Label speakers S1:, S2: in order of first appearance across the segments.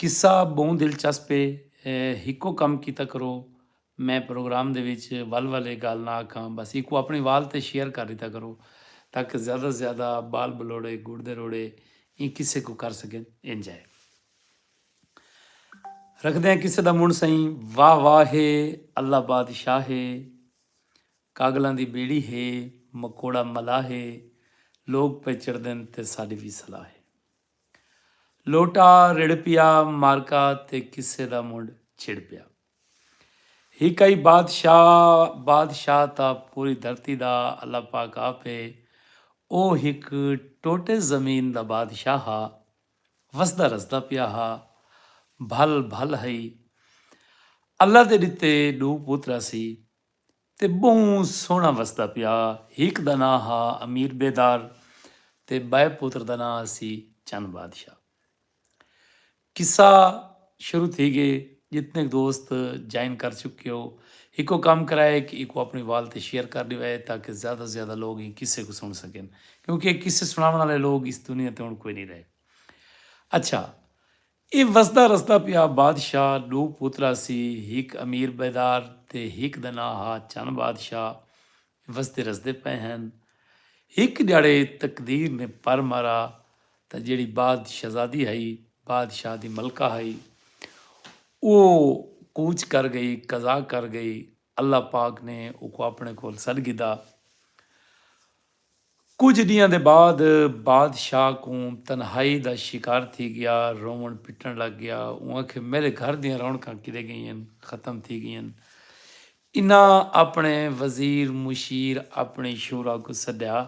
S1: قصہ ٻہوں دلچسپ ہے۔ ہکو کم کیتا کرو میں پروگرام دے وچ ول ول اے گالھ نہ آکھاں بس ایکوں اپنڑے وال تے شیئر کر ڈیتا کرو تاکہ زیادہ توں زیادہ بال بلوڑے گڑ دے روڑے ایں قصے کوں کر سگن اینجائے رکھدے آں قصے دا منڑ سئیں واہ واہ ہے اللہ بادشاہ ہے کاگلاں دی بیڑی ہے مکوڑا ملاح ہے لوگ پئے چڑھدن تے ساڈی وی صلاح ہے۔ لوٹا رڑھ پیا مارکا تے قصے دا منڈھ چھڑ پیا۔ ہک ای بادشاہ بادشاہ تاں پوری دھرتی دا اللہ پاک آپ ہے۔ او ہک ٹوٹے زمین دا بادشاہ ہا۔ وسدا رسدا پیا ہا۔ بھل بھل ہئی۔ اللہ دے ڈتے ڈو پترا سی۔ تے ٻہوں سوہݨا وسدا پیا ہک دا ناں ہا امیر بیدار تے ٻئے پتر دا ناں ہسی چن بادشاہ قصہ شروع تھی ڳئے جتنیک دوست جائن کر چکیو ہکو کم کرائے کہ ایکوں اپݨی وال تے شیئر کر ݙیوائے تاکہ زیادہ توں زیادہ لوک ایں قصے کوں سݨ سڳن کیونکہ اے قصے سݨاوݨ آلے لوک اس دنیا تے ہݨ کوئی نی رہے اچھا اے وسدا رسدا پیا بادشاہ ڈو پوترا سی ہک امیر بیدار تے ہک دا ناں ہا چن بادشاہ اے وسدے رسدے پئے ہن ہک ڈیاڑے تقدیر نے پر مارا تاں جیڑی باد شہزادی ہئی بادشاہ دی ملکہ ہئی او کوچ کر گئی قضا کر گئی اللہ پاک نے اوکوں اپنے کول سڈ گھدا کجھ ڈینہاں دے بعد بادشاہ کوں تنہائی دا شکار تھی گیا روون پٹن لگ گیا اوں آکھے میڈے گھر دیاں رونقاں کڈے گئین ختم تھی گئین انہاں اپنے وزیر مشیر اپنی شورا کوں سڈیا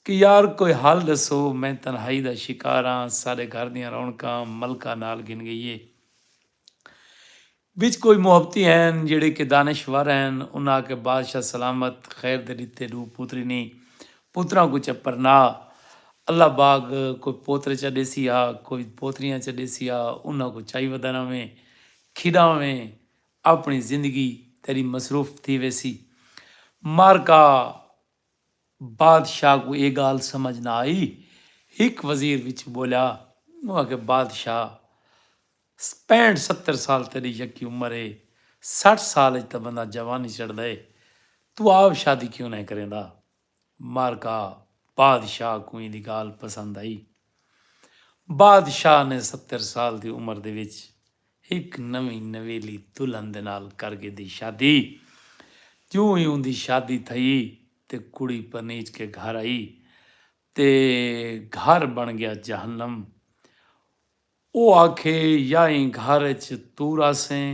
S1: کہ یار کوئی حل ڈسو میں تنہائی دا شکار ہاں ساڈے گھر دیاں رونقاں ملکہ نال گھن گئی ہے وچ کوئی محبتی ہین جیڑھے کہ دانش ور ہین۔ انہاں آکھیا بادشاہ سلامت خیر دے ڈتے ڈو پوتری نیں پوتراں کوں چا پرنا اللہ باگ کوئی پوترے چا ڈیسی ہا کوئی پوتریاں چا ڈیسی ہا انہاں کوں چائی ودانا ویں کھیڈا ویں اپنی زندگی تیڈی مصروف تھی ویسی مارکا بادشاہ کوں اے گال سمجھ نہ آئی ہک وزیر وچ بولیا او آکھیا بادشاہ پینٹ ستر سال تیڈی یکی عمر اے سٹھ سال اچ تاں بندہ جوانی چڑھدا اے توں آپ شادی کیوں نئیں کریندا مارکا بادشاہ کوں ایندی گالھ پسند آئی بادشاہ نے ستر سال دی عمر دے وچ ہک نویں نویلی دلہن دے نال کر گھدی شادی جوں ای اوندی شادی تھئی تے کڑی پرنیج کے گھر آئی تے گھر بن گیا جہنم او آکھے یا ایں گھر اچ توں رہسیں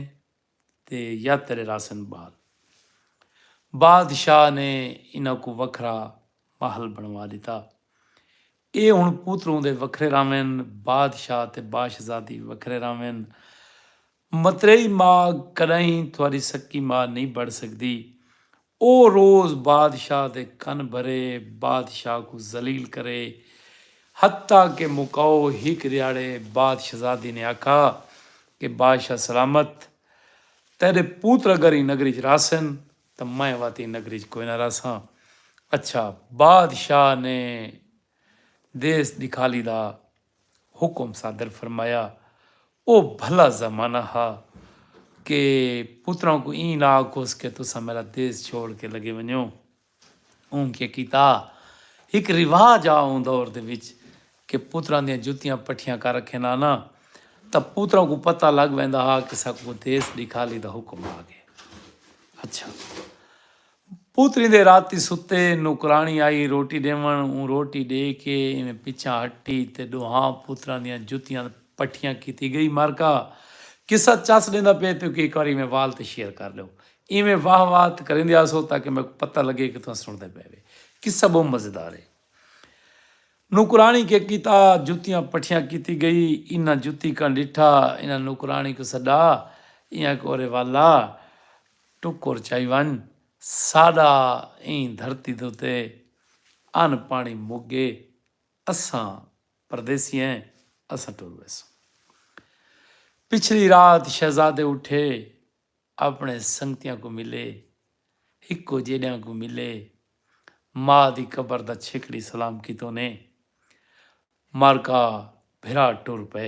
S1: تے یا تیڈے رہسن بال۔ بادشاہ نے انہاں کوں وکھرا محل بنڑوا ڈتا۔ اے ہن پوتروں دے وکھرے رہون، بادشاہ تے باشزادی وکھرے رہون۔ متریئی ماء کݙاہیں تہاݙی سکی ماء نئیں بݨ سڳدی۔ او روز بادشاہ دے کن بھرے، بادشاہ کوں ذلیل کرے۔ حتی کہ مکاؤ ہک ݙیہاڑے بادشزادی نے آکھا کہ بادشاہ سلامت تیݙے پوتر اگر ایں نگری ءچ رہسن تاں میں وت ایں نگری ءچ کوئناں رہساں۔ اچھا بادشاہ نے دیس ݙکھالی دا حکم صادر فرمایا۔ او بھلا زمانہ ہا کہ پتراں کوں ایں نہ آکھوس کہ تساں میڈا دیس چھوڑ کے لگے ونجو۔ اوں کیا کیتا۔ ہک رواج ہا اوں دور دے وچ کہ پتراں دیاں جتیاں پٹھیاں کر رکھن ہاں نہ تاں پتراں کوں پتہ لگ ویندا ہا کہ ساکوں دیس ڈکھالی دا حکم آ گئے۔ اچھا۔ پوتری دے راتی ستے، نوکراݨی آئی روٹی ݙیوݨ، اوں روٹی ݙے کے ایویں پچھاں ہٹی تے ݙوہاں پوتراں دیاں جتیاں پٹھیاں کیتی ڳئی مرکا قصہ چس ݙیندا پئے تیکوں ہک واری ایویں وال تے شیئر کر ݙیو ایویں واہ واہ ت کریندے آسو تاکہ میکوں پتہ لڳے کہ تہاں سݨدے پئے وے قصہ ٻہوں مزیدار ہے نوکراݨی کے کیتا جتیاں پٹھیاں کیتی ڳئی انہاں جتی کن ݙٹھا انہاں نوکراݨی کوں سݙا ایاں کوں ارے والا ٹکر چائی ونج ساڈا ایں دھرتی دے اتے ان پانی مک گئے اساں پردیسی ہیں اساں ٹر ویسوں پچھلی رات شہزادے اٹھے اپنے سنگتیاں کو ملے ہکو جیڈیاں کو ملے ماں دی قبر دا چھکڑی سلام کیتوں نے مارکا بھرا ٹر پے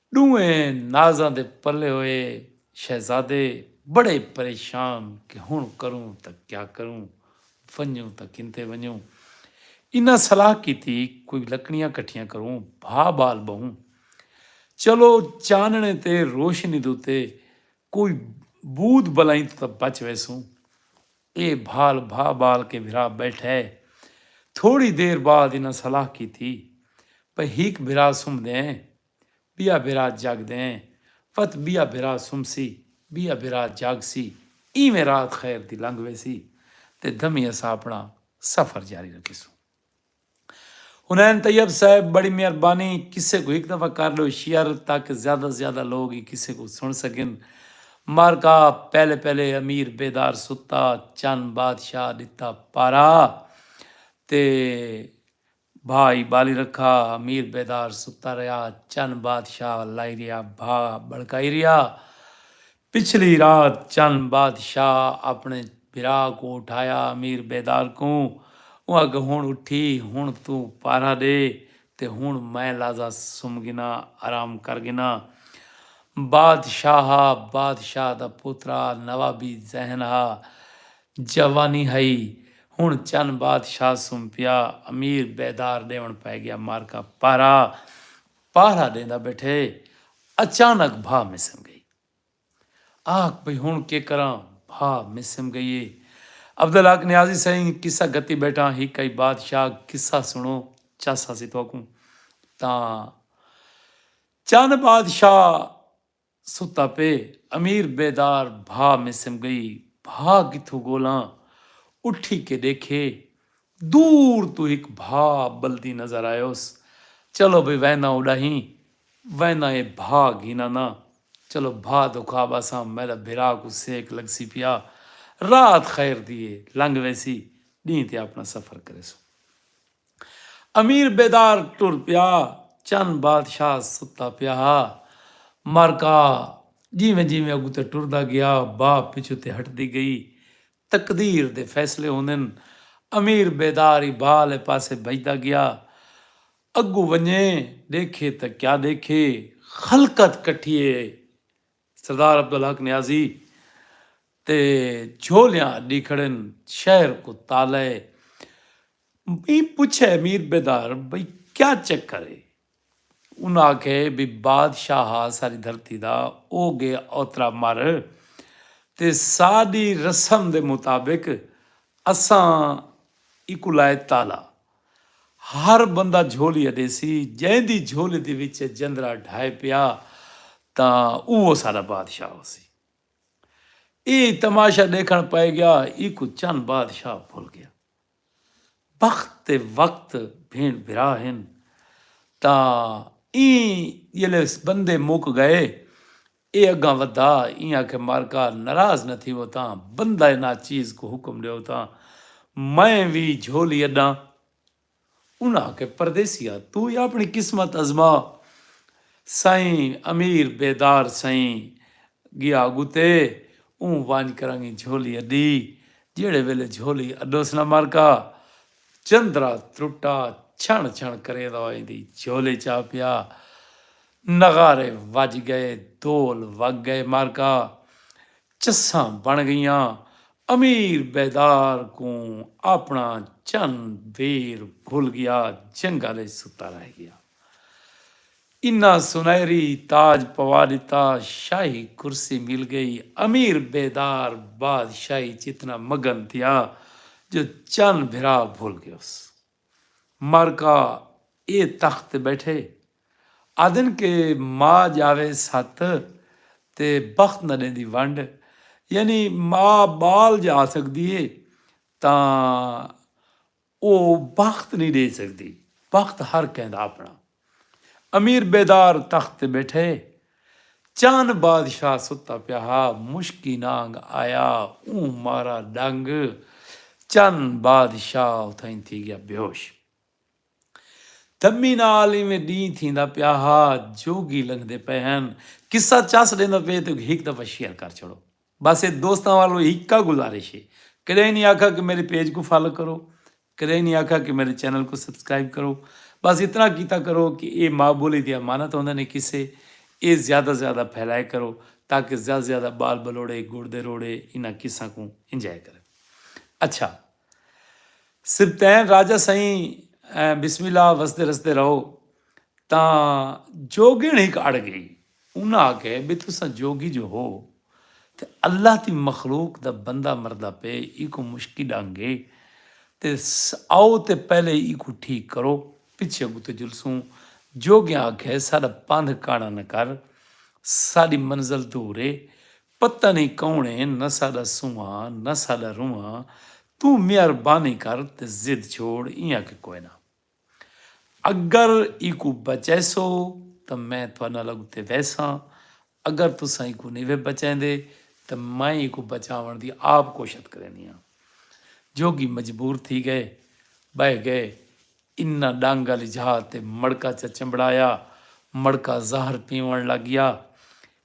S1: ݙوہیں نازاں دے پلے ہوئے شہزادے بڑے پریشان کہ ہݨ کروں تاں کیا کروں، ونڄوں تاں کنتے ونڄوں۔ انہاں صلاح کیتی کوئی لکڑیاں کٹھیاں کروں، بھا ٻال ٻہوں۔ چلو چانݨے تے روشنی دے اتے کوئی بود بلائیں توں تاں بچ ویسوں۔ اے بھال بھا ٻال کے بھرا ٻیٹھئے۔ تھوڑی دیر بعد انہاں صلاح کیتی پئے ہک بھرا سمدھئیں ٻیا بھرا جاڳ دئیں وت ٻیا بھرا سمسی ٻیا بھرا جاڳسی اینویں رات خیر دی لنگھ ویسی تے دھمی اساں اپݨا سفر جاری رکھیسوں حنین طیب صاحب بڑی مہربانی قصے کوں ہک دفعہ کر ڈیو شیئر تاکہ زیادہ زیادہ لوگ ایں قصے کوں سن سگن معرکہ پہلے پہلے امیر بیدار ستا چن بادشاہ ڈتا پارا تے بھا ای بالی رکھا میر بیدار ستا رہیا چن بادشاہ لائی رہیا بھا بھڑکائی رہیا پچھلی رات چن بادشاہ اپنے بھرا کوں اٹھایا میر بیدار کوں اوں آکھیا ہن اٹھی ہن توں پارہ ڈے تے ہن میں لازا سم گھنا آرام کر گھنا بادشاہا بادشاہ دا پوترا نوابی ذہن ہا جوانی ہئی ہن چن بادشاہ سوں پیا امیر بیدار ڈیون پئے گیا مارکا پہرا پہرا ڈیندا بیٹھے اچانک بھا مسم گئی آکھ بھئی ہن کے کراں بھا مسم گئی اے عبدالحق نیازی سئیں قصہ گھتی بیٹھاں ہک ہئی بادشاہ قصہ سنڑو چس ہسی تہاکوں تاں چن بادشاہ ستا پئے امیر بیدار بھا مسم گئی بھا کتھوں گولاں اٹھی کے ڈیکھے دور توں ہک بھا بلدی نظر آیوس چلو بھئی وینداں اڈاہیں وینداں اے بھا گھینا نا چلو بھا دکھا باساں میڈا بھرا کوں سیک لگسی پیا رات خیر دی اے لنگ ویسی ڈینہ تے اپنا سفر کریسوں۔ امیر بیدار ٹر پیا چن بادشاہ ستا پیا ہا معرکہ جیویں جیویں اگوں تے ٹردا گیا با پچھوں تے ہٹدی گئی تقدیر دے فیصلے ہوندن امیر بیدار ای با آلے پاسے بھجدا گیا اگوں ونجے ڈیکھے تاں کیا ڈیکھے خلقت کٹھی اے سردار عبدالحق نیازی تے جھولیاں اڈی کھڑن شہر کوں تالہ اے ایں پچھے امیر بیدار بھئی کیا چکر اے انہاں آکھے بھئی بادشاہ ہا ساری دھرتی دا او گے اوترا مر تے ساڈی رسم دے مطابق اساں ایکوں لائے تالہ ہر بندہ جھولی اݙے سی جئیں دی جھولی دے وچ جندرا ڈھائے پیا تاں اوہو ساݙا بادشاہ ہوسی۔ اے تماشا ݙیکھݨ پئے ڳیا ایکوں چن بادشاہ بھل ڳیا۔ بخت تے وقت بھیݨ بھرا ہن تاں ایں ڄلے بندے مک ڳئے ایہ اگاں ودھا ایں آکھے مارکا نراض نہ تھیوو تاں بندہ ناچیز کوں حکم ڈیو تاں میں وی جھولی اڈاں انہاں آکھے پردیسیا توں وی آپنی قسمت ازما سئیں امیر بیدار سئیں گیا اگتے اوں ونج کرنگیں جھولی اڈی جیہڑے ویلے جھولی اڈوس نہ مارکا چندرا ترٹا چھنڑ چھنڑ کریندا ہوئیں دی جھولی چا پیا نغارے وج گئے دھول وگ گئے معرکہ چساں بݨ گئیاں امیر بیدار کوں آپݨا چن ویر بھل گیا جنگل اچ ستا رہ گیا انہاں سنہری تاج پوا ݙتا شاہی کرسی مل گئی امیر بیدار بادشاہی اچ اتنا مگن تھیا جو چن بھرا بھل گیوس معرکہ اے تخت تے ٻیٹھے آہدن کہ ماء ڄاوے ست تے بخت نہ ݙیندی ونڈ یعنی ماء ٻال ڄا سڳدی ہے تاں او بخت نی ݙے سڳدی بخت ہر کہیں دا آپݨا امیر بیدار تخت تے ٻیٹھے چن بادشاہ ستا پیا ہا مشکی نانگ آیا اوں مارا ݙنگ چن بادشاہ اتھائیں تھی ڳیا بیہوش۔ تمی نال ایویں ڈینہہ تھیندا پیا ہا جوگی لنگھدے پئے ہن قصہ چس ڈیندا پئے تے ہک دفعہ شیئر کر چھڑو بس اے دوستاں والوں ہکا گزارش اے کڈہیں نی آکھا کہ میرے پیج کوں فالو کرو کڈہیں نی آکھا کہ میرے چینل کوں سبسکرائب کرو بس اتنا کیتا کرو کہ اے ماء بولی دی امانت ہوندے نے قصے اے زیادہ زیادہ پھیلائے کرو تاکہ زیادہ زیادہ بال بلوڑے گڑ دے روڑے انہاں قصاں کوں انجوائے کرن اچھا سبطین راجہ سئیں بسم اللہ وسدے رسدے رہو تاں جوگیݨ ہک اڑ گئی انہاں آکھے بھئی تساں جوگی جو ہو تے اللہ دی مخلوق دا بندہ مردا پئے ایکوں مشکی ڈنگ اے تے آؤ تے پہلے ایکوں ٹھیک کرو پچھے اگوں تے جلسوں جوگیاں آکھے ساڈا پندھ کاڑا نہ کر ساڈی منزل دور اے پتہ نئیں کون اے نہ ساڈا سونہاں نہ ساڈا رونہاں توں مہربانی کر تے ضد چھوڑ ایاں کہ کوئے نہ اگر ایکو بچیسو تاں میں تہاڈے نال اگتے ویساں اگر تساں ایکو نئیں وے بچیندے تاں میں ایکو بچاون دی آپ کوشت کرینی ہاں جوگی مجبور تھی گئے بہہ گئے انہاں ڈنگ آلی جھا تے مڑکا چا چمبڑایا مڑکا زہر پیون لگ گیا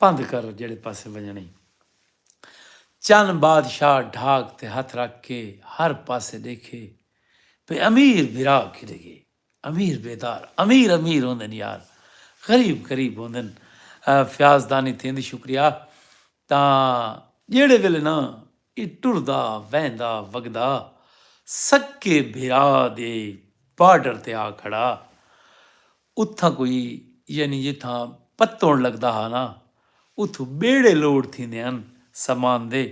S1: پندھ کر جیڑھے پاسے ونجنڑیں۔ چن بادشاہ ڈھاک تے ہتھ رکھ کے ہر پاسے ڈیکھے پے امیر بھرا کیڈے گئے۔ امیر بیدار امیر امیر ہوندن یار غریب غریب ہوندن فیاض دانی تھیندی شکریہ تاں جیڑھے ویلے نہ ای ٹردا ویندا وگدا سکے بھرا دے بارڈر تے آ کھڑا اتھاں کوئی یعنی جتھاں پتوݨ لڳدا ہا نا اتھوں ٻیڑے لوڈ تھیندے ہن سامان دے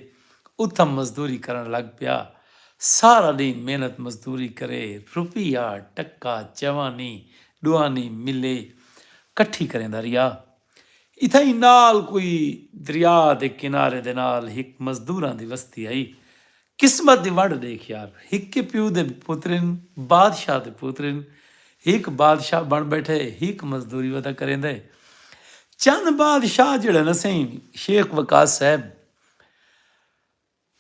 S1: اتھاں مزدوری کرݨ لڳ پیا سارا ݙینہہ محنت مزدوری کرے روپیہ ٹکا چوانی ݙوانی ملے کٹھی کریندا رہیا اتھاں ای نال کوئی دریا دے کنارے دے نال ہک مزدوراں دی وستی ہئی قسمت دی ونڈ ڈیکھ یار ہک پیو دے پتر ہن بادشاہ دے پتر ہن ہک بادشاہ بن بیٹھے ہک مزدوری ودا کریندا ہے چند بادشاہ جیڑھے نا سئیں شیخ وقاص صاحب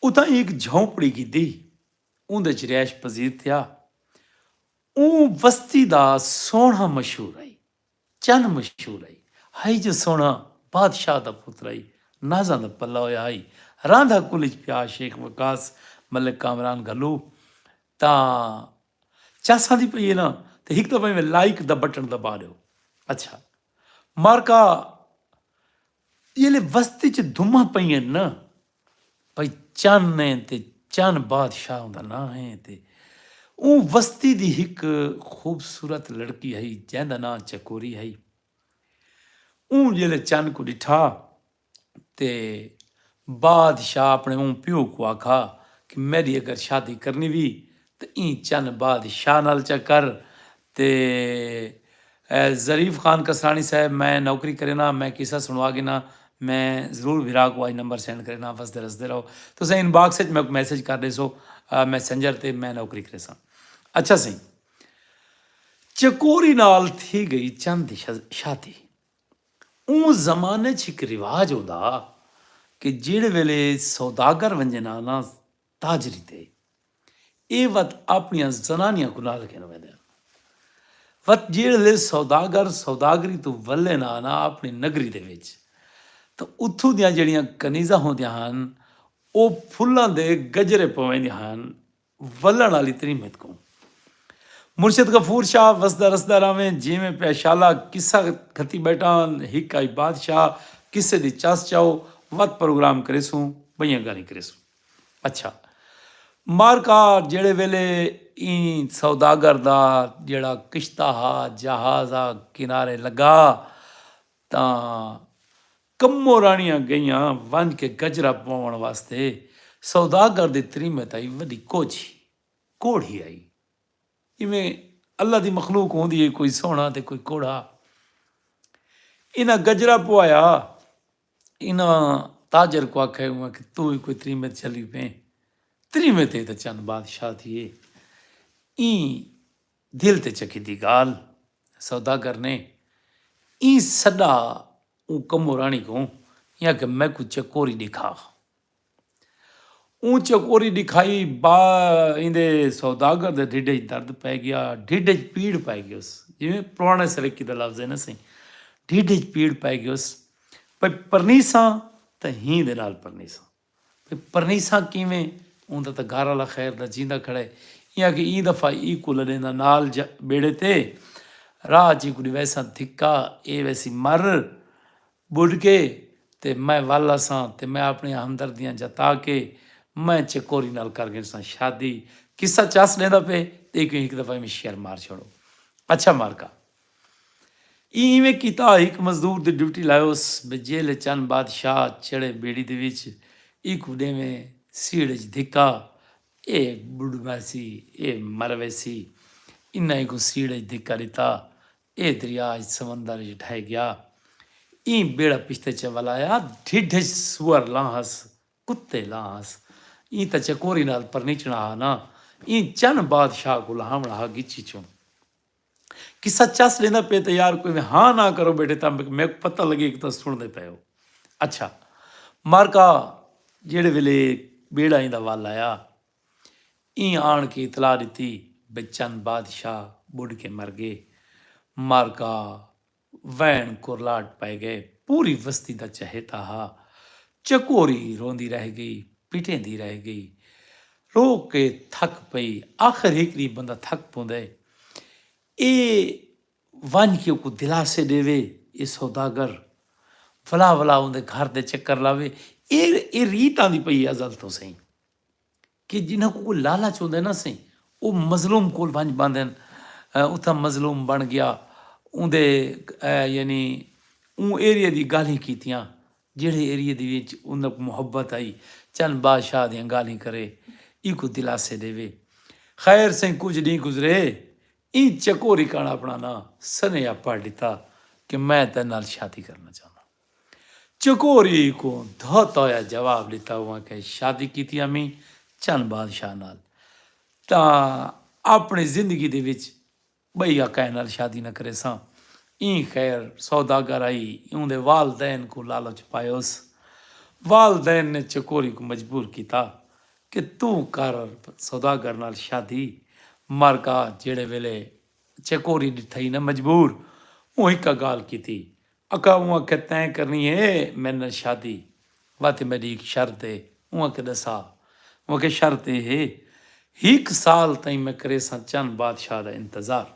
S1: اتھاں ہک جھونپڑی گھدی اوندے چ رہائش پذیر تھیا اوں وستی دا سوہنڑا مشہور ہئی۔ چن مشہور ہئی۔ ہئی جو سوہݨا بادشاہ دا پتر ہئی۔ نازاں دا پلہ ہویا ہئی۔ راندا کل اچ پیا شیخ وقاص ملک کامران گھلو تاں چس آندی پئی ہے نا تاں ہک دفعہ ایویں لائیک دا بٹن دبا ݙیو۔ اچھا مارکا جیلے وستی چ دھماں پئین نہ بھئی چن اے تے چن بادشاہ اوندا ناں اے تے اوں وستی دی ہک خوبصورت لڑکی ہئی جیندا ناں چکوری ہئی۔ اوں جیلے چن کوں ڈٹھا تے بادشاہ اپنے اوں پیو کوں آکھا کہ میڈی اگر شادی کرنی وی تے ایں چن بعد شاہ نال چا کر تے اے ظریف خان کسرانی صاحب میں نوکری کرینا میں قصہ سنڑوا گھنا میں ضرور بھرا کو اج نمبر سینڈ کرینا وسدے رسدے رہو تساں ان باکس اچ میکوں میسج کر ڈیسو میسنجر تے میں نوکری کریساں اچھا سئیں چکوری نال تھی گئی چن دی شادی اوں زمانے اچ ہک رواج ہوندا کہ جیڑھے ویلے سوداگر ونجے نا نا تاجری تے اے وت آپنیاں زنانیاں کوں نال گھن ویندے ہن۔ وت جیڑھلے سوداگر سوداگری توں ولے نہ آنا آپنی نگری دے وچ تاں اتھوں دیاں جیڑھیاں کنیزاں ہوندیاں ہن او پھلاں دے گجرے پویندیاں ہن ولن آلی تریمت کوں۔ مرشد غفور شاہ وسدا رسدا راویں جیویں پیا شالا قصہ گھتی بیٹھا ہن ہک آئی بادشاہ قصے دی چس چاؤ وت پروگرام کریسوں بئیاں گالھیں کریسوں۔ اچھا مارکا جیڑھے ویلے ایں سوداگر دا جیڑھا کشتہ ہا جہاز آ کنارے لگا تاں کمو راݨیاں گئیاں ونج کے گجرا پووݨ واسطے سوداگر دی تریمے تائی وڈی کوجھی، کوڑھی، آئی جیویں اللہ دی مخلوق ہوندی ہے کوئی سوہݨا تے کوئی کوڑھا انہاں گجرا پوایا۔ انہاں تاجر کوں آکھیا ہوا کہ توں وی کوئی تریمے تے چلی پیں، تریمے تے تاں چن بادشاہ تھیے۔ ایں دل تے چکی دی گالھ سوداگر نے ایں سڈا اوں کمو راݨی کوں یا کہ میکوں چکوری ݙیکھا۔ اوں چکوری ڈکھائی با ایندے سوداگر دے ڈھڈ اچ درد پئے گیا ڈھڈ اچ پیڑ پئے گیوس جیویں پرانے سرکی دا لفظ ہے نا سئیں ڈھڈ اچ پیڑ پئے گیوس پئی پرنیساں تاں ہی دے نال پرنیساں پئی پرنیساں کیویں اوں دا تاں گھر والا خیر دا جیندا کھڑا ہے ایں آکھے ایں دفعہ ای کو لڈیندا نال جا بیڑے تے راہ اچ ای کو ڈیویساں دھکا اے ویسی مر ٻڈھ گئے تے میں ول اساں تے میں اپݨیاں ہمدردیاں جتا کے میں چکوری نال کر گھنساں شادی۔ قصہ چس ݙیندا پئے تے ایکوں ہک دفعہ ایویں شعر مار چھوڑو۔ اچھا مارکا ایں ایویں کیتا ہک مزدور دی ڈیوٹی لائیوس بھئی جیلھے چن بادشاہ چڑھے بیڑی دے وچ ایکوں ݙیویں سیڑھ اچ دھکا اے ٻڈھ ویسی اے مر ویسی انہاں ایکوں سیڑھ اچ دھکا ݙتا اے دریا اج سمندر اچ ڈھہہ گیا۔ ایں بیڑا پشتے چے ولایا۔ ڈھڈھ اچ سوئر لاں ہس، کتے لاں ہس۔ ایں تاں چکوری نال پرنیچنڑا ہا نا۔ ایں چن بادشاہ کوں لہاونڑا ہا گچی چوں۔ قصہ چس ڈیندا پئے تاں یار کوئی میں ہاں ناں کرو بیٹھے تاں میکوں پتہ لگے کہ تاں سنڑدے پئے ہو۔ اچھا مارکا جیڑھے ویلے بیڑا ایندا ول آیا ایں آن کے اطلاع ڈتی بے چند بادشاہ بڈھ کے مر گے۔ مارکا وین کرلاٹ پئے گئے۔ پوری وستی دا چہیتا ہا۔ چکوری روندی رہ گئی۔ پٹیندی رہ گئی۔ رو کے تھک پئی۔ آخر ہک ڈینہہ بندہ تھک پوندے۔ اے ونج کے اوکوں دلاسے ڈیوے۔ اے سوداگر۔ ولا ولا اوندے گھر دے چکر لاوے۔ اے ریت آندی پئی اے ازل توں سئیں۔ کہ جنہاں کوں کوئی لالچ ہوندے نہ سئیں او مظلوم کول ونج باندھن اتھاں مظلوم بن گیا اوندے یعنی اوں ایریے دی گالھیں کیتیاں جیڑھے ایریے دی وچ انہاں کوں محبت آئی چن بادشاہ دیاں گالھیں کرے ایکوں دلاسے ڈیوے خیر سئیں کجھ ڈینہہ گزرے ایں چکوری کن اپنا ناں سنیہا پڑھ ڈتا کہ میں تیڈے نال شادی کرنا چاہنداں۔ چکوری کوں دھوتا ہویا جواب ݙتا اواں کئیں شادی کیتی امیں چن بادشاہ نال تاں اپݨی زندگی دے وچ ٻئی آ کئیں نال شادی نہ کریساں ایں خیر سوداگر آئی اوندے والدین کوں لالچ پایوس والدین نے چکوری کوں مجبور کیتا کہ توں کر سوداگر نال شادی مر گا جیڑھے ویلے چکوری ݙٹھائی نہ مجبور اوں ہکا گالھ کیتی اکا اوں آکھے تیں کرنی ہے میڈے نال شادی واتے میڈی ہک شرط ہے اوں آکھے ڈسا اوں آکھے شرط اے ہے ہک سال تئیں میں کریساں چن بادشاہ دا انتظار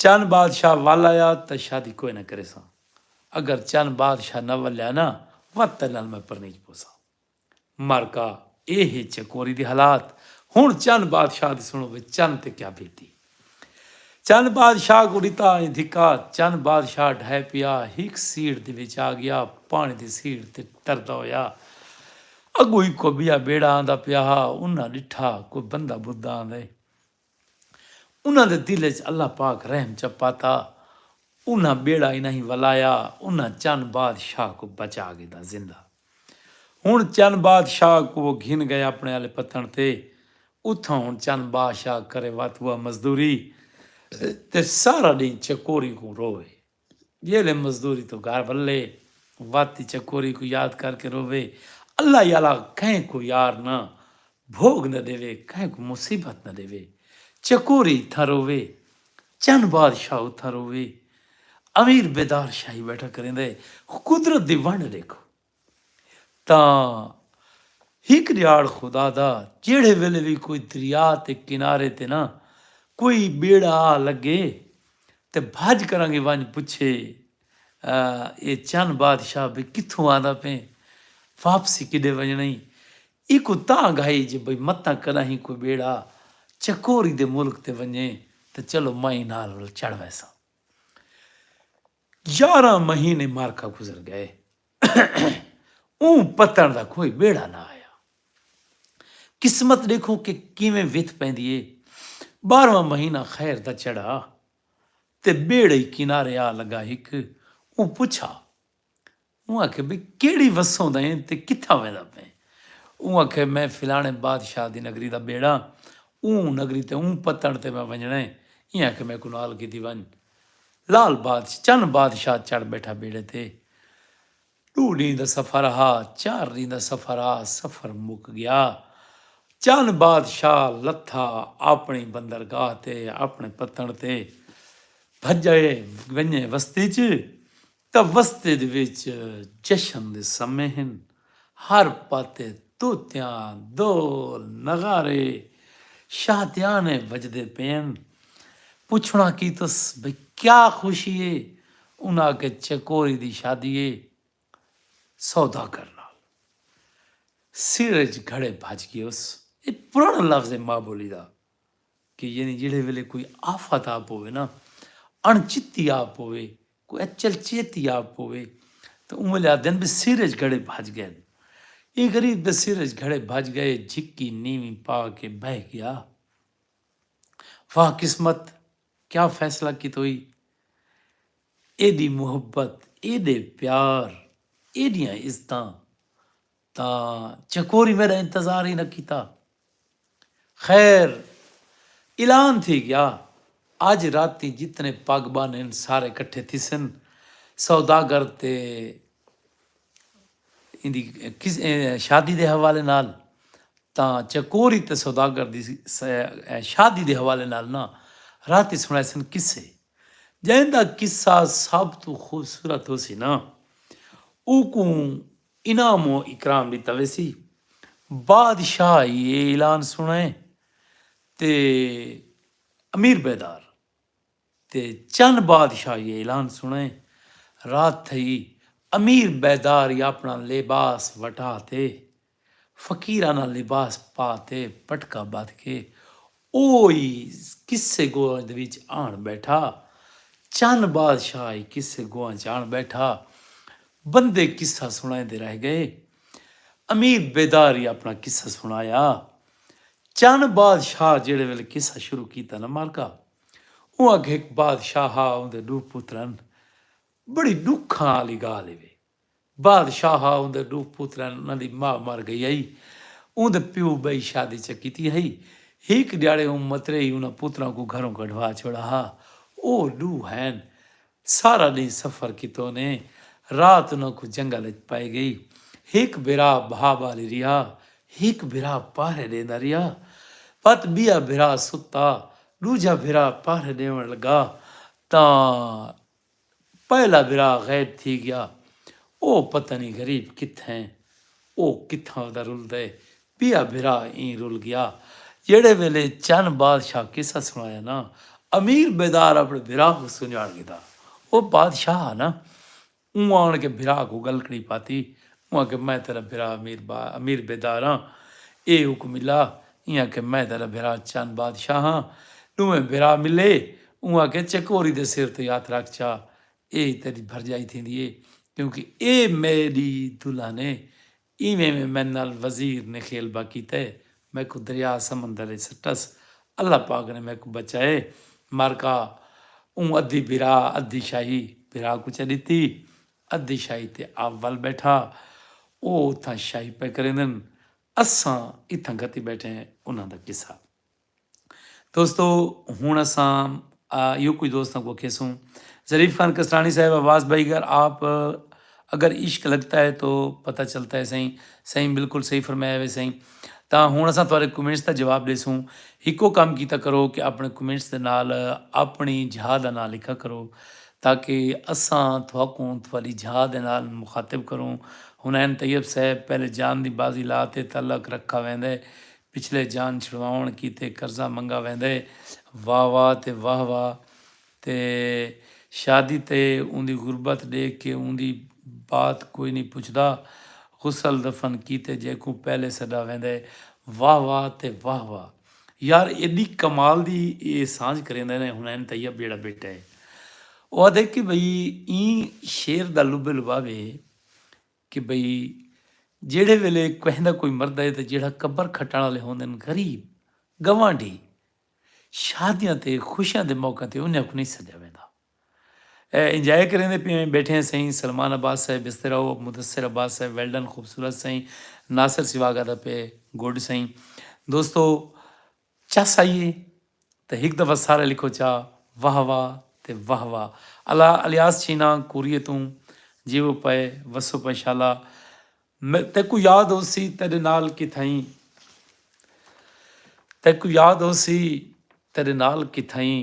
S1: چن بادشاہ ول آیا تاں شادی کوئ نہ کریساں اگر چن بادشاہ نہ ولیا نا وت تیڈے نال میں پرنیج پوساں۔ مرکا اے ہے چکوری دے حالات ہن چن بادشاہ دی سنڑو وچ چن تے کیا بیتی چن بادشاہ کوں ڈتا ایں دھکا چن بادشاہ ڈھائے پیا ہک سیڑھ دے وچ آ گیا پانی دی سیڑھ تے تردا ہویا اگوں ہکو بیا بیڑا آندا پیا ہا انہاں ڈٹھا کوئی بندہ بھدا آندے انہاں دے دل اچ اللہ پاک رحم چا پاتا انہاں بیڑا انہائیں ولایا انہاں چن باد شاہ کوں بچا گھدا زندہ ہن چن باد شاہ کوں وہ گھن گئے اپنے آلے پتن تے اتھاں ہن چن با شاہ کرے واتوا مزدوری تے سارا ڈینہ چکوری کوں روئے۔ جیلھے مزدوری توں گھر ولے وت دی چکوری کوں یاد کر کے رووے اللہ ای اعلی کہیں کوں یار نہ بھوگ نہ ڈیوے کہیں کوں مصیبت نہ ڈیوے چکوری اتھاں رووے چن بادشاہ اتھاں رووے امیر بیدار شاہی بیٹھا کریندے قدرت دی ونڈ ڈیکھو تاں ہک ݙیہاڑ خدا دا جیڑھے ویلے وی کوئی دریا تے کنارے تے نہ کوئی ٻیڑا آ لڳے تے بھڄ کرانگے ونڄ پچھے اے چن بادشاہ بھئی کتھوں آندا پئیں؟ واپسی کݙے ونڄݨا ای؟ ایکوں تاں گھائی جو بھئی متاں کݙاہیں کوئی ٻیڑا چکوری دے ملک تے ونڄے تاں چلو مئیں نال ول چڑھ ویساں۔ یارہاں مہینے معرکہ گزر گئے اوں پتݨ دا کوئی ٻیڑا نہ آیا۔ قسمت ݙیکھو کہ کیویں وتھ پیندی اے۔ ٻارہواں مہینہ خیر دا چڑھا تے ٻیڑئی کنارے آ لڳا ہک اوں پچھا اوں آکھیا بھئی کیڑھی وسوں دا ایں تے کتھاں ویندا پئیں؟ اوں آکھیا میں فلاݨے بادشاہ دی نگری دا ٻیڑا ہاں، اوں نگری تے اوں پتݨ تے میں ونڄݨا ہے، ایں آکھے میکوں نال گھدی ونڄ۔ لال بادشاہ چن بادشاہ چڑھ ٻیٹھا ٻیڑے تے۔ ݙو ݙینھ دا سفر ہا، چار ݙینھ دا سفر ہا، سفر مک ڳیا۔ چن بادشاہ لتھا آپݨی بندرگاہ تے، آپݨے پتݨ تے بھڄئے ونڄے وستی ءچ توسطد وچ جشن دے سمے ہن۔ ہر پاتے طوطیاں، دول، نغارے، شادیانے وجدے پئن۔ پچھنڑاں کیتس بھئی کیا خوشی اے؟ انہاں آکھیا چکوری دی شادی اے سوداگر نال۔ سر اچ گھڑے بھج گیوس۔ اے پرانڑاں لفظ اے ماں بولی دا۔ کہ یعنی جیڑھے ویلے کوئی آفت آ پوے نا اݨ چتی آ پوے کوئی اچل چیتی آ پوے تاں اوں ویلے آہدن بے سر اچ گھڑے بھج گئن اے غریب بے سر اچ گھڑے بھج گئے جھکی نیویں پا کے بہہ گیا واہ قسمت کیا فیصلہ کیتوئی ایڈی محبت ایڈے پیار ایڈیاں عزتاں تاں چکوری میݙا انتظار ہی نہ کیتا۔ خیر اعلان تھی ڳیا اڄ راتی جتنے پڳ ٻن ہن سارے کٹھے تھیسن، سوداگر تے ایندی شادی دے حوالے نال تاں چکوری تے سوداگر دی شادی دے حوالے نال نہ راتی سݨائیسن قصے جئیں دا قصہ سب توں خوبصورت ہوسی نہ اوکوں انعام و اکرام ݙتا ویسی۔ بادشاہ ای اے اعلان سݨائے تے امیر بیدار تے چن بادشاہ ای اے اعلان سݨائے رات تھئی امیر بیدار ای آپݨا لباس وٹا تے فقیرانہ لباس پا تے پٹکا ٻدھ کے او ای قصے گواں دے وچ آن ٻیٹھا۔ چن بادشاہ ای قصے گواں ءچ آن ٻیٹھا۔ بندے قصہ سݨائیندے رہ ڳئے۔ امیر بیدار ای اپݨا قصہ سݨایا۔ چن بادشاہ جیڑھے ویلے قصہ شروع کیتا نہ مالکا! اوں آکھیا ہک بادشاہ ہا اوندے ݙو پتر ہن۔ بڑی ݙکھاں آلی ڳالھ ای وے۔ بعد شاہ اوندے ڈو پوتریں ہن انہاں دی ماء مر گئی ہئی اوندے پیو بئی شادی چہ کیتی ہئی ہیک ڈیاڑے اوں متریئی انہاں پوتراں کوں گھروں کڈھوا چھوڑا ہا او ڈو ہین سارا ڈینہہ سفر کیتو نے رات انہاں کوں جنگل اچ پائی گئی ہیک بھرا بھا بالی رہیا ہیک بھرا پہرے ڈیندا رہیا پت بیا بھرا ستا ڈوجھا بھرا پہرے ڈیون لگا تاں پہلا بھرا غائب تھی گیا او پتہ نی غریب کتھے او کتھاں دا رلدا ہے ٻیا بھرا ایں رل گیا جیڑھے ویلے چن بادشاہ قصہ سݨایا نا امیر بیدار اپݨے بھرا کوں سنڄاݨ گھدا او بادشاہ ہا نا اوں آن کے بھرا کوں ڳلکڑی پاتی اوں آکھیا میں تیݙا بھرا امیر بیدار ہاں اے حکم الا ایں آکھے میں تیڈا بھرا چن بادشاہ ہاں۔ ڈوہیں بھرا ملے اوں آکھے چکوری دے سر تئیں ہتھ رکھ چا اے تیڈی بھرجائی تھیندی اے کیونکہ اے میں ڈی دلہن اے۔ ایویں میں میں نال وزیر نے خیلبہ کیتا اے میکوں دریا سمندر اچ سٹس اللہ پاک نے میکوں بچا اے مرکا اوں ادھی بھرا ادھی شاہی بھرا کوں چا ڈتی ادھی شاہی تے آپ ول بیٹھا او اتھاں شاہی پئے کریندن اساں اتھاں گھتی بیٹھے ہیں انہاں دا قصہ۔ دوستو ہن اساں ایہو کجھ دوستاں کوں اکھیسوں ظریف خان کسرانی صاحب آواز بھائی گر آپ اگر عشق لگتا ہے تو پتہ چلتا ہے سائیں سائیں بالکل صحیح فرمایا وے سائیں تاں ہن اساں تہاڈے کمنٹس دا جواب ڈیسوں ہکو کم کیتا کرو کہ اپنے کمنٹس دے نال اپنی جھا دا ناں لکھا کرو تاکہ اساں تہاکوں تہاڈی جھا دے نال مخاطب کروں۔ حنین طیب صاحب، پہلے جان دی بازی لا تے تعلق رکھا ویندے، پچھلے جان چھڑواونڑ کیتے قرضہ منگا ویندے۔ واہ واہ تے واہ واہ تے شادی تے اوندی غربت ڈیکھ کے اوندی بات کوئی نی پچھدا۔ غسل دفن کیتے جیکوں پہلے سڈا ویندے۔ واہ واہ تے واہ واہ۔ یار ایڈی کمال دی اے سانجھ کریندے نے حنین طیب جیڑھا بیٹا اے او آدھے کہ بھئی ایں شعر دا لب لباب اے کہ بھئی جیڑھے ویلے کوہندا کوئی مردہ اے تے جیڑھا قبر کھٹن آلے ہوندن غریب گوانڈھی شادیاں تے خوشیاں دے موقعاں تے انہیاں کوں نئیں سڈیا ویندا۔ اے انجاے کریندے پیویں بیٹھیں سئیں سلمان عباس صاحب بستر او مدثر عباس صاحب ویل ڈن خوبصورت سئیں ناصر سواگ آدا پئے گڈ سئیں دوستو چس آئیے تے ہک دفعہ سارے لکھو چا واہ واہ تے واہ واہ الا الیاس چینا کوریے توں جیوو پئے وسو پئے شالا تیکوں یاد ہوسی تیڈے نال کتھائیں تیکوں یاد ہوسی تیڈے نال کتھائیں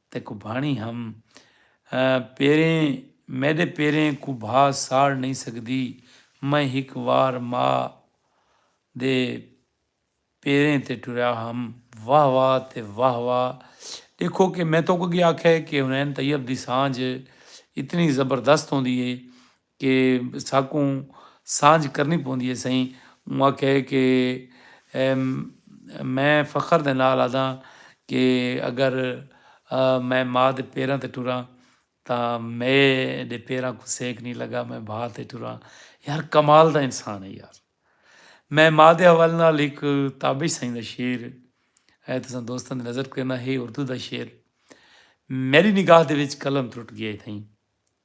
S1: تے کبھاݨی ہم پیریں میݙے پیریں کوں بھا ساڑ نئیں سڳدی میں ہک وار ماء دے پیریں تے ٹریا ہم واہ واہ تے واہ واہ ݙیکھو کہ میں تہاکوں اڳے آکھیا ہے کہ حنین طیب دی سانجھ اتنی زبردست ہوندی ہے کہ ساکوں سانجھ کرنی پوندی ہے سئیں اوں آکھیا ہے کہ میں فخر دے نال آدھاں کہ اگر میں ماء دے پیراں تے ٹراں تاں مئے دے پیراں کوں سیک نئیں لگا میں بھاء تے ٹراں یار کمال دا انسان ہے یار میں ماء دے حوالے نال ہک تابش سئیں دا شعر ہے تساں دوستاں دی نظر کرنا ہے اردو دا شعر میری نگاہ دے وچ قلم ترٹ گیا ہے تھئیں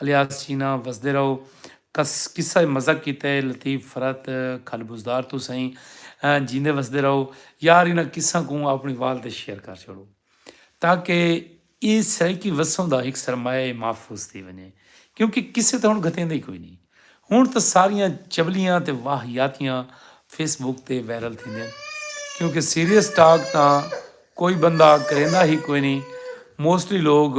S1: الیاس چینا وسدے رہو کس قصہ مزق کیتے لطیف فرت کھل بزدار تو سئیں جیندے وسدے رہو یار انہاں قصہ کوں اپنی وال تے شیئر کر چھوڑو تاکہ اے سرائیکی وسوں دا ہک سرمایہ محفوظ تھی ونجے کیونکہ قصے تے ہن گھتیندے ہی کوئی نہیں ہن تاں ساریاں چبلیاں تے واہیاتیاں فیس بک تے وائرل تھیندین کیونکہ سیریس ٹاک تاں کوئی بندہ کریندا ہی کوئی نہیں موسٹلی لوگ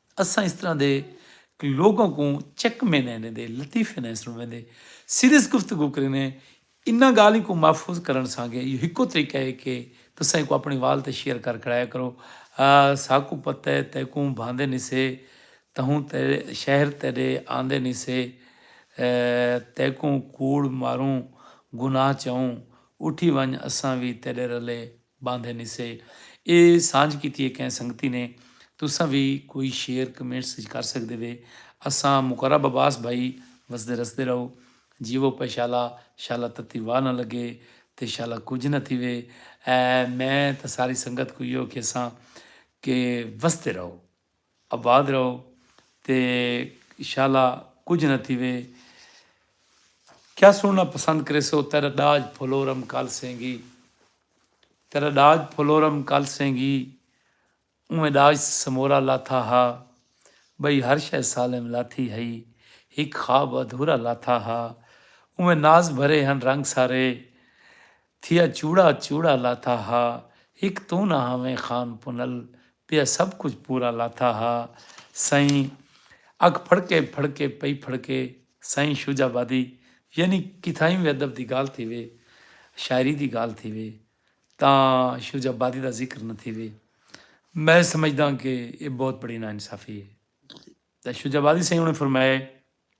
S1: اساں اس طرح دے لوگاں کوں چک مینے نے دے لطیفے نئیں سنڑویندے، سیریس گفتگو کرینے، انہاں گالھیں کوں محفوظ کرنڑ سانگے ایہو ہکو طریقہ ہے کہ تساں ایکوں اپنڑے وال تے شیئر کر کھڑایا کرو، ساکوں پتہ ہے تیکوں بھاندے نی سے، تہوں تیڈے شہر تیڈے آندے نی سے، تیکوں کوڑ ماروں، گناہ چاہوں، اٹھی ونج اساں وی تیڈے رلے باندھے نسے اے سانجھ کیتی اے کہیں سنگتی نے تساں وی کوئی شعر کمنٹس اچ کر سکدے وے اساں مقرب عباس بھائی وسدے رسدے رہو جیوو پے شالا شالا تتی واہ نہ لگے تے شالا کجھ نہ تھیوے اے میں تاں ساری سنگت کوں ایہو کھیساں کہ وسدے رہو۔ آباد رہو تے شالا کجھ نہ تھیوے۔ کیا سنڑنا پسند کریسو تیرا ڈاج پھولورم کل سینگی تیرا ڈاج پھولورم کل سینگی اوئیں ڈاج سمورا لاتھا ہا بھئی ہر شے سالم لاتھی ہئی ہک خواب ادھورا لاتھا ہا اوئیں ناز بھرے ہن رنگ سارے تھیا چوڑا چوڑا لاتھا ہا ہک توں نہ ہاویں خان پنل پیا سب کجھ پورا لاتھا ہا سائیں اکھ پھڑکے پھڑکے پئی پھڑکے سائیں شجاع آبادی یعنی کتھائیں وی ادب دی گالھ تھیوے شاعری دی گالھ تھیوے تاں شجاع آبادی دا ذکر نہ تھیوے میں سمجھداں کہ اے بہت بڑی ناانصافی اے شجاع آبادی سائیں انہاں فرمایا اے۔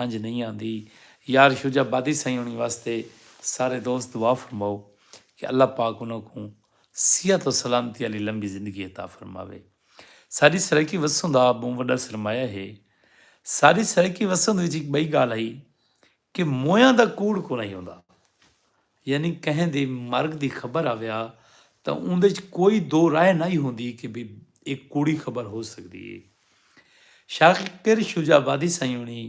S1: ہنج نئیں آندی یار شجاع بادی سائیں ہونی واسطے سارے دوست دعا فرماؤ کہ اللہ پاک انہاں کوں صحت و سلامتی آلی لمبی زندگی عطا فرماوے ساڈی سرائیکی وسند آپ بہوں وڈا سرمایہ ہے ساڈی سرائیکی وسند وچ ہک بئی گالھ ہئی کہ مویاں دا کوڑ کونہی ہوندا یعنی کہیں دے مرگ دی خبر آویا تاں اوندے اچ کوئی دو رائے نائی ہوندی کہ بھئی اے کوڑی خبر ہو سگدی اے۔ شاکر شجاع آبادی سائیں ہوݨیں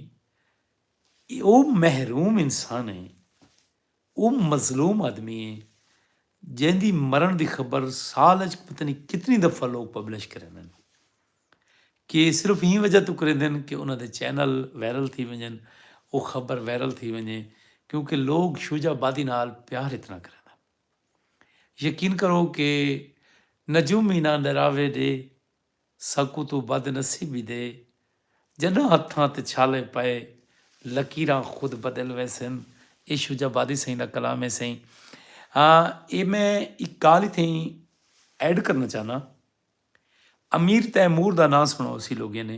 S1: او محروم انسان اے، او مظلوم آدمی اے جیندی مرݨ دی خبر سال اچ پتہ نی کتنی دفعہ لوک پبلش کریندن۔ کہ صرف ایں وجہ توں کریندن کہ انہاں دے چینل وائرل تھی ونجن او خبر وائرل تھی ونجے کیونکہ لوگ شوجا آبادی نال پیار اتنا کریندن یقین کرو کہ نجوم اینا نراوے ڈے ساکوں توں بد نصیبی دے جڈاں ہتھاں تے چھالے پئے لکیراں خود بدل ویسن اے شوجا آبادی سئیں دا کلام ہے سئیں اے میں ایک گال اتھیں ایڈ کرنا چاہنا امیر تیمور دا ناں سݨا ہوسی لوگیں نے۔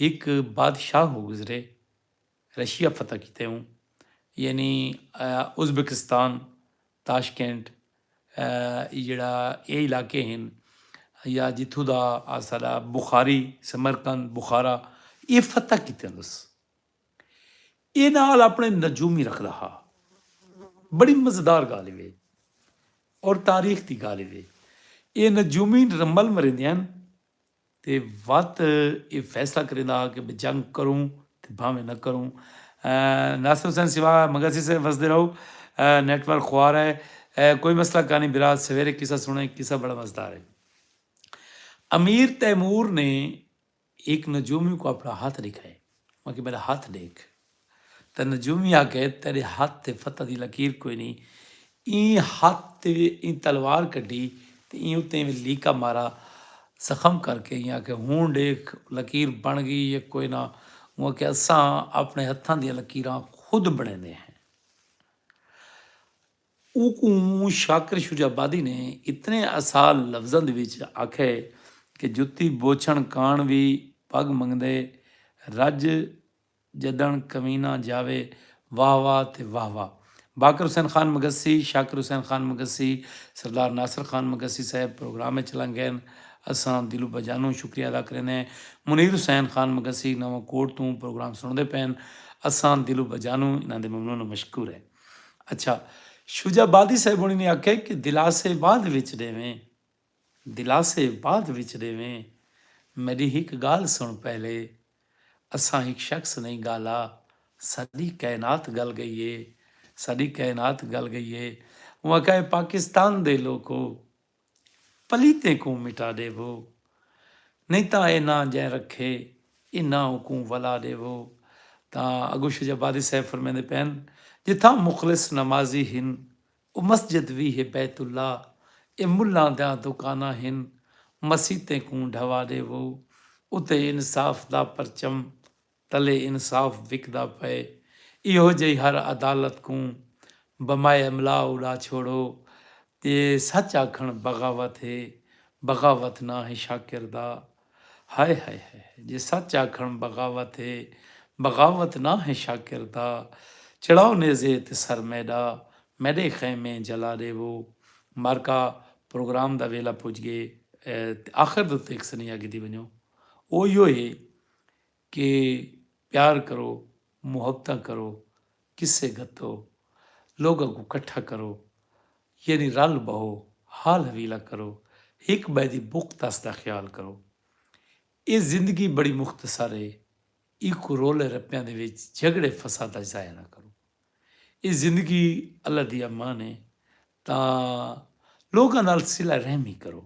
S1: ہک بادشاہ ہو گزرے رشیا فتح کیتے اوں یعنی ازبکستان تاشکینٹ ای جیڑھا اے علاقے ہن یا جتھوں دا اساݙا بخاری سمرقند بخارا اے فتح کیتے اندس۔ ایں نال اپݨے نجومی رکھدا ہا۔ بڑی مزیدار ڳالھ وے اور تاریخ دی ڳالھ وے۔ اے نجومی رمل مریندے ہن تے وت اے فیصلہ کریندا ہا کہ جنگ کروں تے بھانویں نہ کروں۔ ناصر حسین سوا مگسی سے وسدے رہو نیٹ ورک خوار ہے کوئی مسئلہ کانی برا سویرے قصہ سنیں قصہ بڑا مزدار ہے۔ امیر تیمور نے ہک نجومی کوں اپݨا ہتھ ݙکھائے آکھیے میݙا ہتھ ݙیکھ تاں نجومی آکھے تیݙے ہتھ تے فتح دی لکیر کوئی نھیں ایں ہتھ تے ایں تلوار کڈھی تے ایں اتے ایویں لیکا مارا زخم کر کے ایں آکھے ہݨ ݙیکھ لکیر بݨ ڳئی یا کوئی نہ اوں آکھے اساں اپݨے ہتھاں دیاں لکیراں خود بݨیندے ہیں اوکوں شاکر شجاع آبادی نے اتنے اسال لفظاں دے وچ آکھئے کہ جتی بوچھݨ کاݨ وی پڳ منگدے رڄ ڄݙݨ کمینہ جاوے واہ واہ تے واہ واہ باقر حسین خان مگسی، شاکر حسین خان مگسی، سردار ناصر خان مگسی صاحب پروگرام اچ لنگ ڳئن اساں دلو بجانوں شکریہ ادا کریندے منیر حسین خان مگسی نواں کوٹ توں پروگرام سݨدے پئن اساں دلو بجانوں انہاں دے ممنون و مشکور ہیں۔ اچھا شجاع بادی صاحب ہونی نے آکھیا کہ دلاسے بعد وچ ڈیویں دلاسے بعد وچ ڈیویں میڈی ہک گالھ سن پہلے اساں ہک شخص نہیں گالا ساڈی کائنات گل گئی ہے ساڈی کائنات گل گئی ہے اوں آکھیا اے پاکستان دے لوکو پلیتیں کوں مٹا ݙیوو۔ نئیں تاں اے ناں جئیں رکھے ایں ناں اکوں ولا ݙیوو۔ تاں اڳوں شجاع بادی صاحب فرمیندے پئن جتھاں مخلص نمازی ہن او مسجد وی ہے بیت اللہ اے ملاں دیاں دکاناں ہن مسیتیں کوں ڈھوا ݙیوو اتے انصاف دا پرچم تلے انصاف وکدا پئے ایہو جئی ہر عدالت کوں بمائے املا اڑا چھوڑو تے سچ آکھن بغاوت ہے بغاوت ناں ہے شاکر دا ہائے ہائے ہائے ہائے جے سچ آکھن بغاوت ہے بغاوت ناں ہے شاکر دا چڑھاؤ نیزے تے سر میڈا میڈے خیمے جلا ڈیوو مارکا پروگرام دا ویلا پج گئے تے آخر دے اتتے ہک سنیہا گھدی ونجو او ایہو ہے کہ پیار کرو محبتاں کرو قصے گھتو لوگاں کوں کٹھا کرو یعنی رل بہو حال حویلا کرو ہک بئے دی بکھ تس دا خیال کرو اے زندگی بڑی مختصر اے ایکوں رولے رپیاں دے وچ جھگڑے فساداں اچ ضائع نہ کرو اے زندگی اللہ دی امان اے تاں لوگاں نال صلہ رحمی کرو۔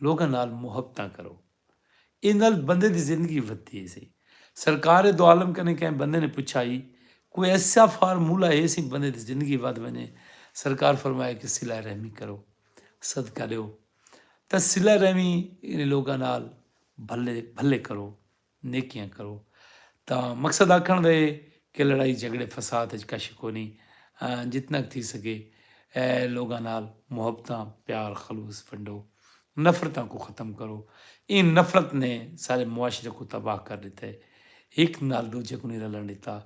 S1: لوکاں نال محبتاں کرو۔ ایں نال بندے دی زندگی ودھدی ہیسی۔ سرکار دوعالم کنیں کہیں بندے نے پچھا ہی کوئی ایسا فارمولہ ہیسی بندے دی زندگی ودھ ونجے۔ سرکار فرمایا کہ صلہ رحمی کرو۔ صدقہ ڈیو۔ تاں صلہ رحمی یعنی لوکاں نال بھلے بھلے کرو۔ نیکیاں کرو تاں مقصد آکھنڑ دا اے کہ لڑائی جھگڑے فساد اچ کش کونی جتنا ک تھی سگے لوگاں نال محبتاں پیار خلوص ونڈو نفرتاں کوں ختم کرو ایں نفرت نے سارے معاشرے کوں تباہ کر ڈتا اے ہک نال ڈوجھے کوں نی رلن ڈتا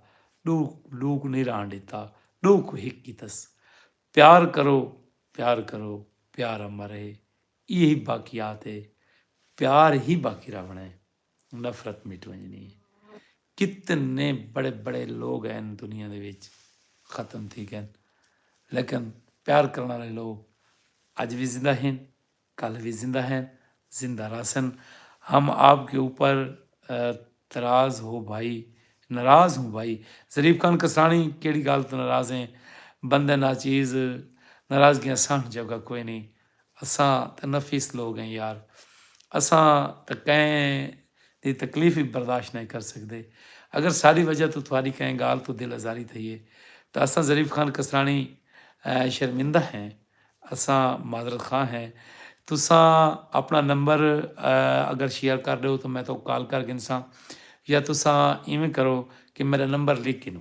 S1: ڈو ڈو کوں نی رہن ڈتا ڈو کوں ہک کیتس پیار کرو پیار کرو پیار امر اے۔ ایہی باقیات اے۔ پیار ہی باقی راہوݨا اے۔ نفرت مٹ ونڄݨی اے۔ کتنے بڑے بڑے لوگ ہن دنیا دے وچ ختم تھی ڳئن لیکن پیار کرݨ آلے لوگ اڄ وی زندہ ہن، کل وی زندہ ہن، زندہ رہسن۔ ہم آپ کے اوپر تراز ہو بھائی، ناراض ہوں بھائی۔ ظریف خان کسراݨی کیڑھی ڳالھ توں ناراض ہیں؟ بندے ناچیز ناراضگیاں سہݨ جوڳا کوئینی۔ اساں تاں نفیس لوگ ہیں یار۔ اساں تاں کہیں دی تکلیف وی برداشت نئیں کر سگدے۔ اگر ساڈی وجہ توں تہاڈی کہیں گالھ توں دل آزاری تھئی ہے تاں اساں ظریف خان کسرانی شرمندہ ہیں۔ اساں معذرت خواہ ہیں۔ تساں اپݨا نمبر اگر شیئر کر ݙیؤ تاں میں تہاکوں کال کر گھنساں یا تساں ایویں کرو کہ میݙا نمبر لکھ گھنو۔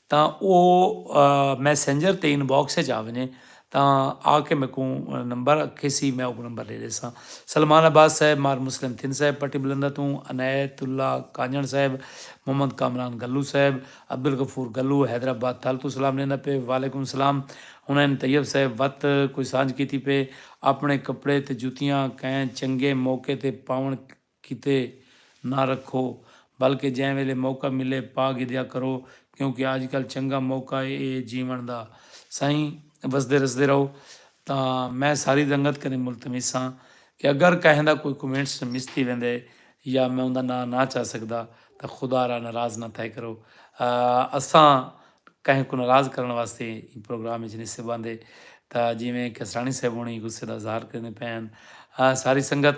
S1: تاں او میسنجر تے ان باکس اچ آ ونجے تاں آ کے میکوں نمبر کھیسی میں اوکوں نمبر ڈے ڈیساں سلمان عباس صاحب مار مسلم تھن صاحب پٹی بلندہ توں عنایت اللہ کانجھنڑ صاحب محمد کامران گلو صاحب عبدالغفور گلو حیدرآباد تھل توں سلام ڈیندا پئے وعلیکم سلام حنین طیب صاحب وت کوئی سانجھ کیتی پئے اپنڑے کپڑے تے جتیاں کئیں چنگے موقع تے پاونڑ کیتے نہ رکھو بلکہ جیں ویلے موقع ملے پا گھدیا کرو کیونکہ آج کل چنگا موقع اے جیون دا سائیں وسدے رسدے رہو تاں میں ساری رنگت کنیں ملتمس ہاں کہ اگر کہیں دا کوئی کومنٹس مس تھی ویندے یا میں اوندا ناں نہ چا سگدا تاں خدا را ناراض نہ تھئے کرو اساں کہیں کوں ناراض کرن واسطے ایں پروگرام وچ نی سے باندے تاں جیویں کسراݨی صاحب ہونی غصے دا اظہار کریندے پئے ہن ساری سنگت